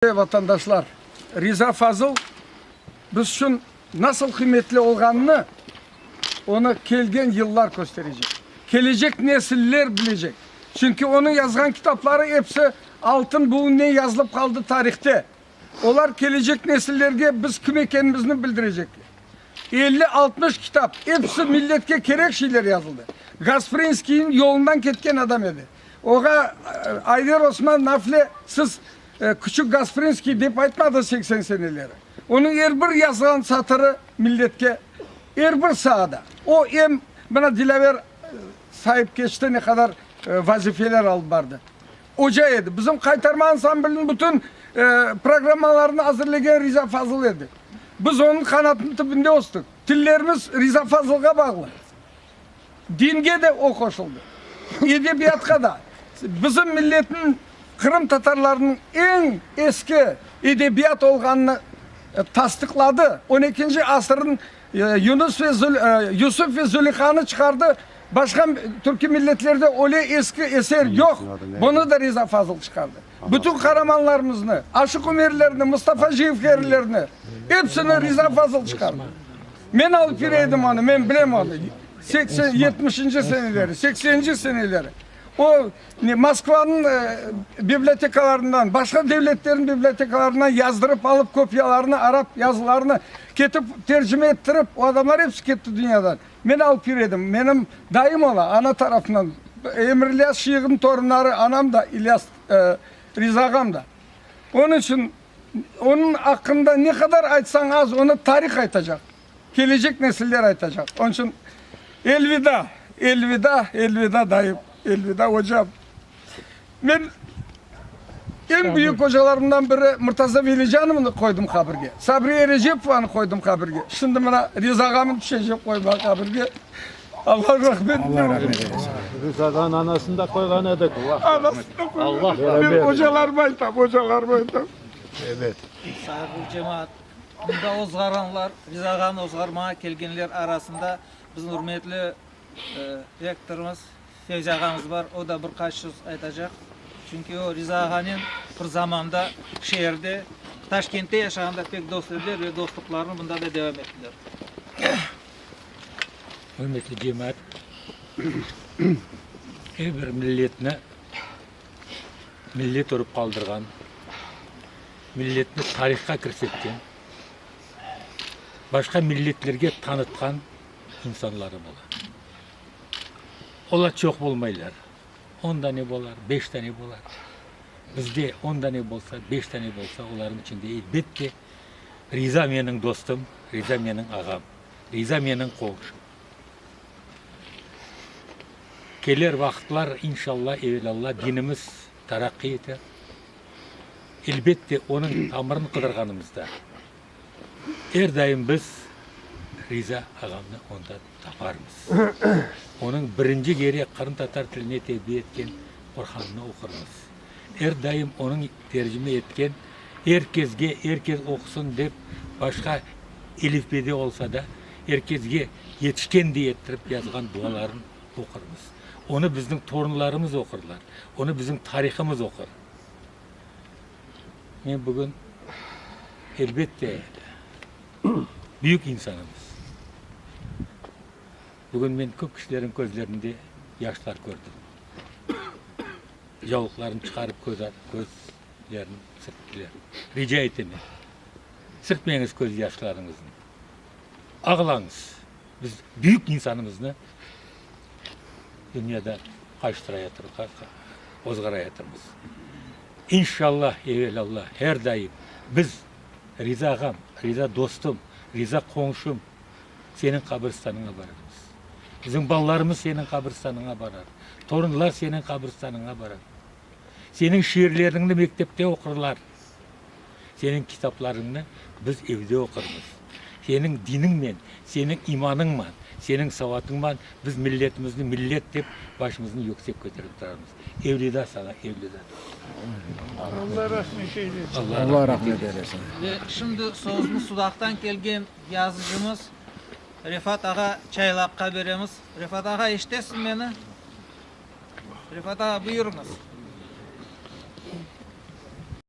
Ey vatandaşlar, Riza Fazıl biz içün nasıl qıymetli olğanını onı kelgen yıllar kösterecek. Kelecek nesiller bilecek. Çünki onıñ yazğan kitapları episi altın buğunnen yazılıp qaldı tarihte. Olar kelecek nesillerge biz kim ekenimizni bildirecekler. Elli, altmış kitap, episi milletke kerek şeyler yazıldı. Gasprinskiyniñ yolundan ketken adam edi. Oğa Ayder Osman Nafle siz Küçük Gasprinskiy dep aytmadı seksen seneleri. Onıñ er bir yazğan satırı milletke, er bir saada. O, em mına Dilâver saip keçti, ne qadar vazifeler alıp bardı. Oca edi. Bizim qaytarma ansambliniñ bütün programmalarını azırlegen Riza Fazıl edi. Biz onıñ qanatınıñ tübünde östük. Tillerimiz Riza Fazılğa bağlı. Dinge de o qoşuldı, edebiyatqa da. Bizim milletniñ, qırımtatarlarnıñ eñ eski edebiyat olğanını tasdıqladı. On ekinci asırın Yunus ve Yusuf ve Züleyhanı çıqardı, başqa türki milletlerde öyle eski eser yoq, bunı da Riza Fazıl çıqardı. Bütün qaramanlarımıznı, Aşıq Ümerlerni, Mustafa Cevherlerni, epsini Riza Fazıl çıqardı. Men alıp kire edim onı, men bilem onı, seksen, yetmişinci seneleri, sekseninci seneleri. O, ne, Moskvanıñ bibliotekalarından, başqa devletlerniñ bibliotekalarından yazdırıp alıp, kopiyalarını, arap yazılarını ketip tercime ettirip, o adamlar episi ketti dünyadan. Men alıp kire edim, menim dayım ola, ana tarafından, Emirlyaz Şıyığnıñ torunları, anam da, İlyas, Riza ağam da. Onıñ içün. Onıñ aqqında ne qadar aytsañ az, onı tarih aytacaq, kelecek nesiller aytacaq. Onıñ içün elvida, elvida, elvida dayım, elvida ocam. Men eñ büyük ocalarımdan biri Murtaza Velijanovnı qoydım qabirge, Sabriye Recepovanı qoydım qabirge, şimdi mına Riza ağamnı tüşecem qoymağa qabirge. Allah rahmet eylesin. Biz adanın anasını da koyğan edik. Anasını da koyğan edik. Ben hocalarıma aytam, hocalarıma aytam. Evet. Sağ ol cemaat. Bunda ozğaranlar, biz ağanı ozğarmağa kelgenler arasında bizim ürmetli rektorımız Fevzi ağamız bar. O da bir qaç söz aytacaq. Çünki o Riza ağanen bir zamanda şeerde, Taşkentte yaşağanda pek dost ediler ve dostluqlarını bunda da devam ettiler. Hürmetli cemaat, er bir milletni millet urıp qaldırğan, milletni tarihqa kirsetken, başqa milletlerge tanıtqan insanlarım ola. Olar çoq bolmaylar, on dane bolar, beş dane bolar. Bizde on dane bolsa, beş dane bolsa, olarnıñ içinde, elbette, Riza meniñ dostum, Riza meniñ ağam, Riza meniñ qomşum. Keler vaqıtlar, inşalla, evelalla dinimiz taraqqiy eter. Elbet de, onıñ tamırın qıdırğanımızda, er daim biz Riza ağamnı onda taparmız. Onıñ birinci gerek qırımtatar tiline tevbi etken Qurhanını oqurmız. Er daim onıñ tercime etken Er kesge, er kes oqusın dep başqa elifbede olsa da, er kesge yetişken diye ettirip yazğan duaların oqurmız. Onı bizniñ torunlarımız oqurlar, onı bizim tarihımız oqur. Men bugün, elbette, büyük insanımız. Bugün men köp kişilerniñ közlerinde yaşlar kördim. Yavuklarını çıqarıp közlerini sirttiler. Rica etemen, sirtmeñiz köz yaşlarıñıznı, ağlañız, biz büyük insanımıznı dünyada ozğarayatırmız. İnşalla, evelâllah, her daim biz, riza ağam, riza dostum, riza qonşum, seniñ qabristanıña bararmız. Bizim balalarımız seniñ qabristanıña barar, torunlar seniñ qabristanıña barar. Seniñ şiirleriñni mektepte oqurlar, seniñ kitaplarıñnı biz evde oqurmız. Seniñ diniñnen, seniñ imanıñman, seniñ savatıñman biz milletimizni millet dep başımıznı yüksek köterip turarmız. Evlida saña, evlida! Allah rahmet eylesin. Allah rahmet eylesin. Ve şimdi sözünü Sudaqtan kelgen Yazıcımız, Refat ağa, çaylaqqa beremiz. Refat ağa, eşitesiz meni? Refat ağa, buyurıñız.